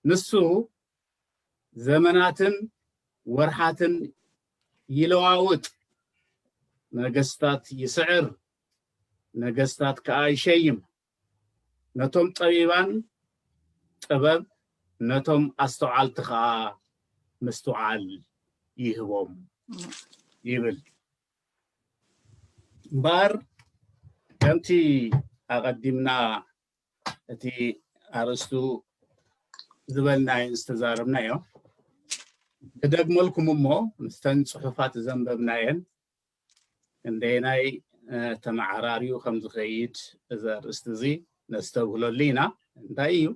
ንሱ ዘመናትን ወርሓትን ይለዋውጥ፣ ነገስታት ይስዕር፣ ነገስታት ከኣ ይሸይም፣ ነቶም ጠቢባን ጥበብ፣ ነቶም ኣስተውዓልቲ ኸኣ ምስትውዓል ይህቦም ይብል። እምበኣር ከምቲ ኣቐዲምና እቲ ኣርእስቱ ዝበልናዮን ዝተዛረብናዮ ክደግመልኩም እሞ ምስተን ፅሑፋት ዘንበብናየን ክንደየናይ ተመዓራርዩ ከም ዝኸይድ እዚ ኣርእስቲ እዚ ነስተብህለሉ ኢና እንታይ እዩ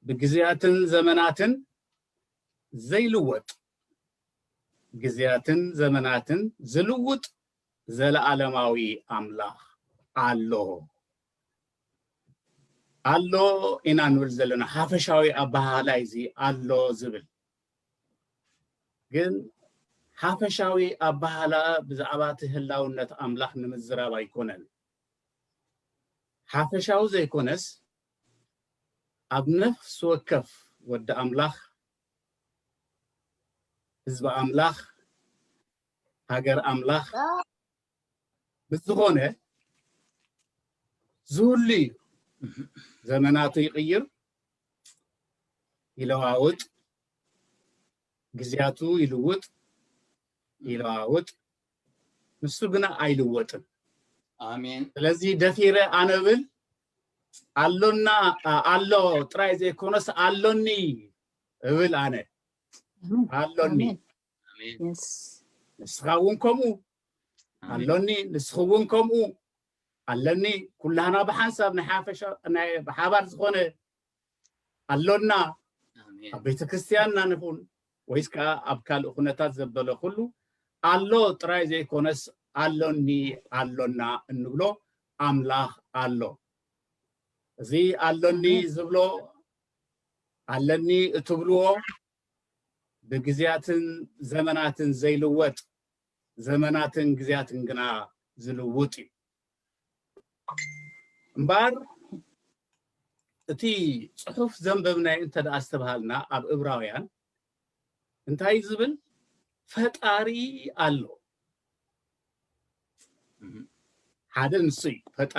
ብግዜያትን ዘመናትን ዘይልወጥ ግዜያትን ዘመናትን ዝልውጥ ዘለዓለማዊ ኣምላኽ ኣሎ ኣሎ ኢና ንብል ዘለና ሓፈሻዊ ኣበሃህላ እዚ ኣሎ ዝብል ግን ሓፈሻዊ ኣበሃህላ ብዛዕባ እቲ ህላውነት ኣምላኽ ንምዝራብ ኣይኮነን ሓፈሻዊ ዘይኮነስ ኣብ ነፍሲ ወከፍ ወዲ ኣምላኽ ህዝቢ ኣምላኽ ሃገር ኣምላኽ ብዝኾነ ዝህሉ እዩ ዘመናቱ ይቕይር ይለዋውጥ ግዜያቱ ይልውጥ ይለዋውጥ ንሱ ግና ኣይልወጥን ኣሜን ስለዚ ደፊረ ኣነብል ኣሎና ኣ- ኣሎ ጥራይ ዘይኮነስ ኣሎኒ እብል ኣነ ኣሎኒ ኣሜን። ንስኻ እውን ከምኡ ኣሎኒ ንስኺ እውን ከምኡ ኣለኒ ኩላህና ብሓንሳብ ናይ ሓፈሻ ናይ ብሓባር ዝኾነ ኣሎና ኣብ ቤተ ክርስትያንና ንኹን ወይስ ከዓ ኣብ ካልእ ኩነታት ዘበለ ኩሉ ኣሎ ጥራይ ዘይኮነስ ኣሎኒ ኣሎና እንብሎ ኣምላኽ ኣሎ እዚ ኣሎኒ ዝብሎ ኣለኒ እትብልዎ ብግዝያትን ዘመናትን ዘይልወጥ ዘመናትን ግዝያትን ግና ዝልውጥ እዩ እምበኣር እቲ ጽሑፍ ዘንበብናዮ እንተ ደኣ ዝተብሃልና ኣብ እብራውያን እንታይ ዝብል ፈጣሪ ኣሎ ሓደ ንሱ እዩ ፈጣሪ